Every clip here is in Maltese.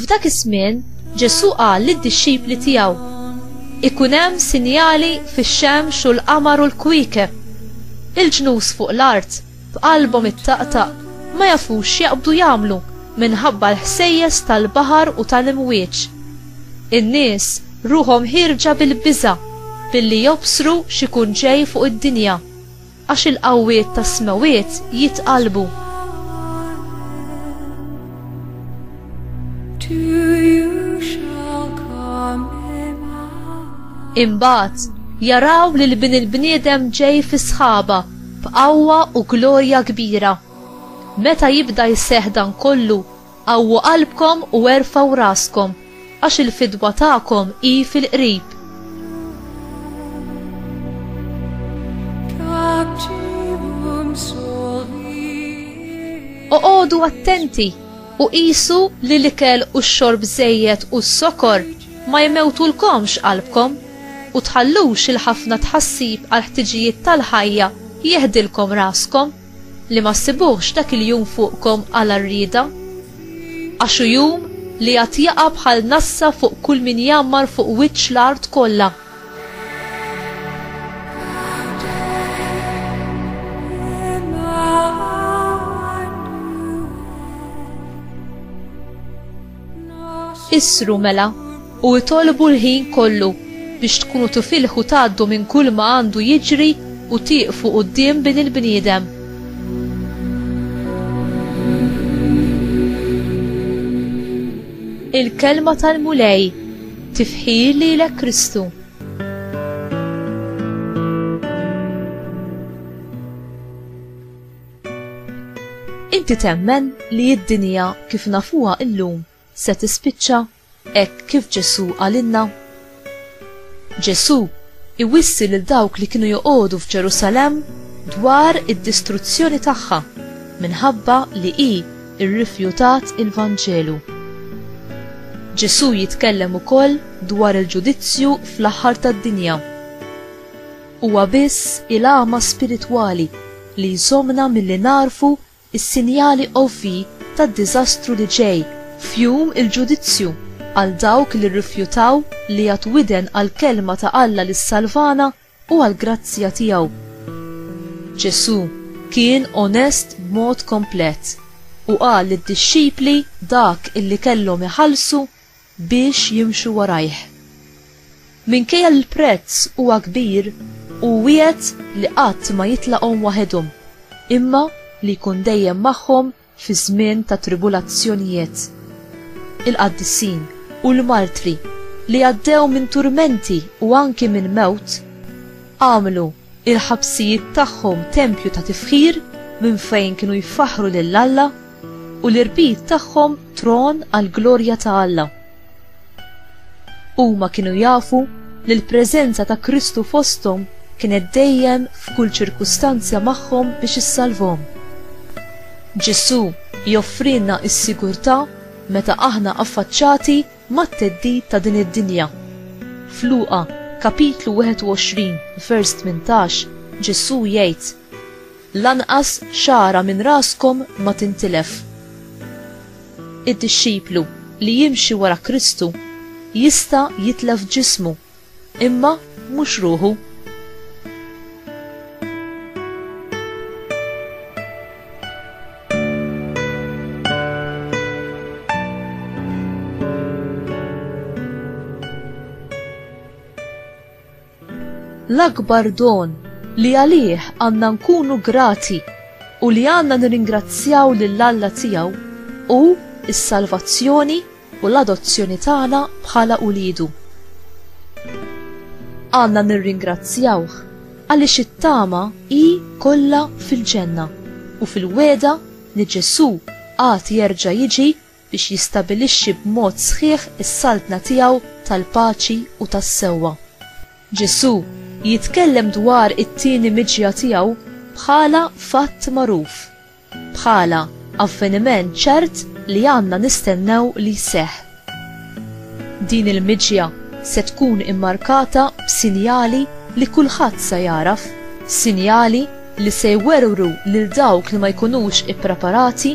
F'dak iż-żmien, Ġesù qal lid-dixxipli tiegħu, Ikun hemm sinjali fix-xemx u l-qamar u l-kwiekeb. Il-ġnus fuq l-art, b'qalbhom ittaqtaq, ma jafux x'jaqbdu jagħmlu minħabba l-ħsejjes tal-baħar u tal-imwieġ. In-nies ruħhom ħierġa bil-biża' billi jobsru x'ikun ġej fuq id-dinja. Għax il-qawwiet tas-smewwiet jitqallbu. Imbagħad jaraw li l-Bin il-Bniedem ġej fi sħaba b'qawwa u glorja kbira. Meta jibda jseħħ dan kollu, Qawwu qalbkom u erfgħu raskom, għax il-fidwa tagħkom hi fil-qrib. Oqogħdu attenti u qisu li l-ikel u x-xorb żejjed u s-sokor ma jmewtulkomx qalbkom u tħallux il-ħafna tħassib għall-ħtiġijiet tal-ħajja jeħdilkom raskom. Li ma ssibuhx dak il-jum fuqkom għala rrieda? Għax hu jum li għad jaqa' bħal nassa fuq kull min jgħammar fuq wiċċ l-art kollha. Isru mela u itolbu l-ħin kollu biex tkunu tifilħu tgħaddu minn kull ma għandu jiġri u tieqfu quddiem Bin il-Bniedem. Il-kelma tal-Mulej tifħir lilek Kristu. Inti temmen li d-dinja kif nafuha illum se tispiċċa hekk kif Ġesù qalilna? Ġesù iwissi lil dawk li kienu joqogħdu f'Ġerusalemm dwar id-distruzzjoni tagħha minħabba li hi rrifjutat il-Vanġelu. Ġesù jitkellem ukoll dwar il-ġudizzju fl-aħħar tad-dinja. Huwa biss il-għama spiritwali li jżommna milli nagħrfu s-sinjali ovvji tad-diżastru li ġej, f'Jum il-Ġudizzju, għal dawk li rrifjutaw li jagħtu widen għall-Kelma ta' Alla li ssalvana u għall-grazzja tiegħu. Ġesù kien onest b'mod komplet u qal lid-dixxipli dak illi kellhom iħallsu biex jimxu warajh. Minkejja li l-prezz huwa kbir, hu wiegħed li qatt ma jitlaqhom waħedhom, imma li jkun dejjem magħhom fi żmien ta' tribulazzjonijiet. Il-qaddisin u l-martri li għaddew minn turmenti u anki minn mewt, għamlu il-ħabsijiet tagħhom tempju ta' tifħir minn fejn kienu jfaħħru lil Alla, u l-irbit tagħhom tron għall-glorja ta' Alla. Huma kienu jafu li l-preżenza ta' Kristu fosthom kienet dejjem f'kull ċirkustanzja magħhom biex issalvhom. Ġesù joffrilna s-sigurtà meta aħna affaċċati mat-theddid ta' din id-dinja. F'Luqa, kapitlu 21, vers 18, Ġesù jgħid, Lanqas xagħra minn raskom ma tintilef. Id-dixxiplu li jimxi wara Kristu jista' jitlef ġismu. Imma mhux ruħu. L-akbar don li għalih għandna nkunu grati u li għandna nirringrazzjaw lill-Alla tiegħu hu s-salvazzjoni u l-adozzjoni tagħna bħala uliedu. Għandna nirringrazzjawh għaliex it-tama hi kollha fil-ġenna u fil-wegħda li Ġesù għad jerġa' jiġi biex jistabilixxi b'mod sħiħ is-saltna tiegħu tal-paċi u tas-sewwa. Ġesù jitkellem dwar it-tieni miġja tiegħu bħala fatt magħruf. bħala avveniment ċert li għandna nistennew li jseħħ. Din il-miġja se tkun immarkata b'sinjali li kulħadd se jagħraf, sinjali li se jwerwru lil dawk li ma jkunux ippreparati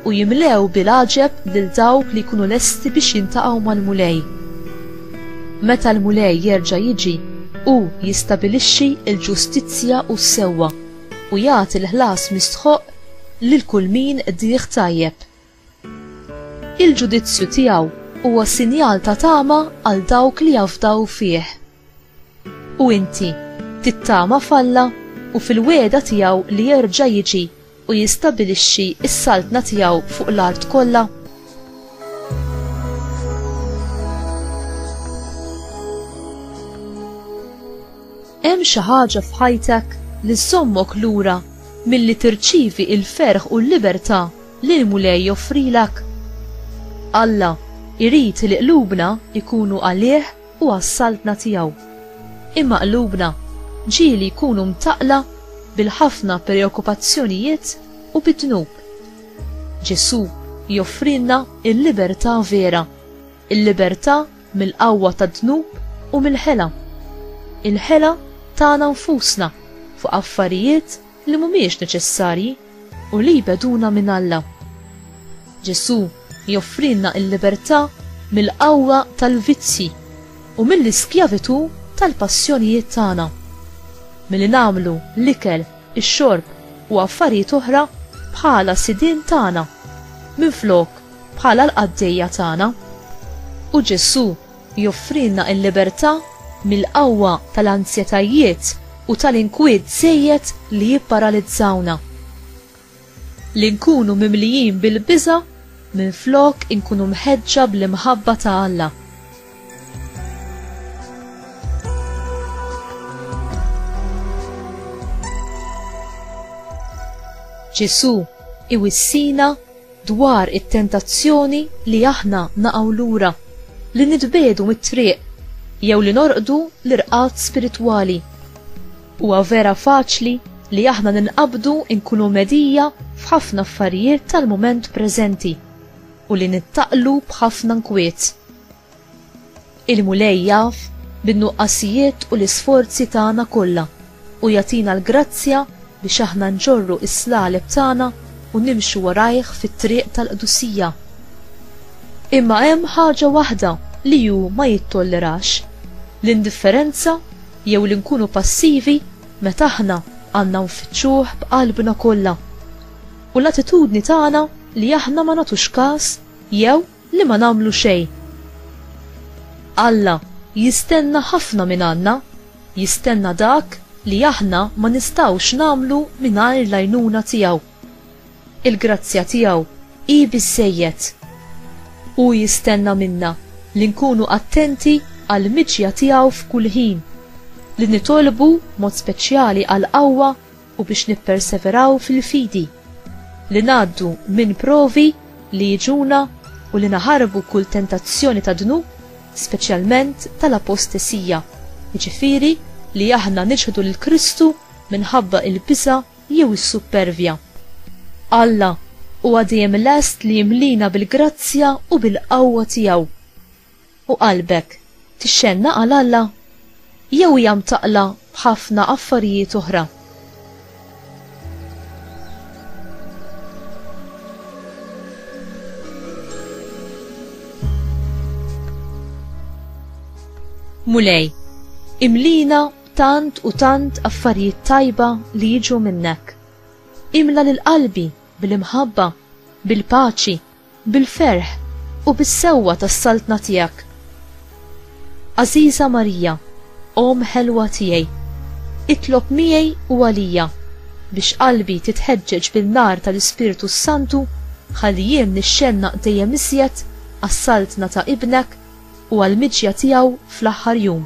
u jimlew bil-għaġeb lil dawk li jkunu lesti biex jiltaqgħu mal-Mulej. Meta l-Mulej jerġa' jiġi, hu jistabilixxi l-ġustizzja u s-sewwa. u jagħti l-ħlas mistħoqq lil kull min qdih tajjeb. Il-ġudizzju tiegħu huwa sinjal ta' tama għal dawk li jafdaw fih. U inti, tittama f'Alla u fil-wegħda tiegħu li jerġa' jiġi u jistabilixxi s-saltna tiegħu fuq l-art kollha? Hemm xi ħaġa f'ħajtek li żżommok lura milli tirċievi l-ferħ u l-libertà li l-Mulej joffrilek? Alla jrid li qlubna jkunu għalih u għas-Saltna tiegħu. Imma qlubna ġieli jkunu mtaqqla bil-ħafna preokkupazzjonijiet u bid-dnub. Ġesù joffrilna l-libertà vera. Il-libertà mill-qawwa tad-dnub u mill-ħela. Il-ħela tagħna nfusna fuq affarijiet li mhumiex neċessarji u li jbegħduna minn Alla. Ġesù joffrilna l-libertà mill-qawwa tal-vizzji u mill-iskjavitù tal-passjonijiet tagħna. Milli nagħmlu l-ikel, ix-xorb u affarijiet oħra bħala sidien tagħna, minflok bħala l-qaddejja tagħna. U Ġesù joffrilna l-libertà mill-qawwa tal-anzjetajiet u tal-inkwiet żejjed li jipparalizzawna. Li nkunu mimlijin bil-biża' minflok inkunu mħeġġa bl-imħabba ta' Alla. Ġesù iwissina dwar it-tentazzjoni li aħna naqgħu lura, li nitbiegħdu mit-triq, jew li norqdu l-irqad spiritwali. Huwa vera faċli li aħna ninqabdu nkunu mhedija f'ħafna affarijiet tal-mument preżenti u li nittaqlu b'ħafna nkwiet. Il-Mulej jaf bin-nuqqasijiet u l-isforzi tagħna kollha u jagħtina l-grazzja biex aħna nġorru s-slaleb tagħna u nimxu warajh fit-triq tal-qdusija. Imma hemm ħaġa waħda li hu ma jittollerax, l-indifferenza jew li nkunu passivi meta aħna għandna nfittxuh b'qalbna kollha, u l-attitudni tagħna li aħna ma nagħtux każ jew Li ma nagħmlu xejn. Alla jistenna ħafna mingħandna, jistenna dak li aħna ma nistgħux nagħmlu mingħajr l-għajnuna tiegħu. Il-grazzja tiegħu hi biżżejjed. Hu jistenna minna li nkunu attenti għall-miġja tiegħu f'kull ħin, li nitolbu b'mod speċjali għall-qawwa u biex nipperseveraw fil-fidi, li ngħaddu minn provi li jiġuna u li naħarbu kull tentazzjoni tad-dnub, speċjalment tal-apostesija, jiġifieri li aħna niċħdu lil Kristu minħabba il-biża' jew is-suppervja. Alla huwa dejjem lest li jimlina bil-grazzja u bil-qawwa tiegħu, U qalbek tixxennaq għal Alla? Jew hija mtaqqla b'ħafna affarijiet oħra? Mulej, imlina b'tant u tant affarijiet tajba li jiġu minnek. Imla lil qalbi bil-imħabba, bil-paċi, Bil-ferħ u bis-sewwa tas-Saltna tiegħek. Għażiża Marija, Omm ħelwa tiegħi, itlob miegħi u għalija biex qalbi titħeġġeġ bin-nar tal-Ispirtu s-Santu ħalli jien nixxennaq dejjem iżjed għas-Saltna ta' Ibnek u għall-miġja tiegħu fl-aħħar jum.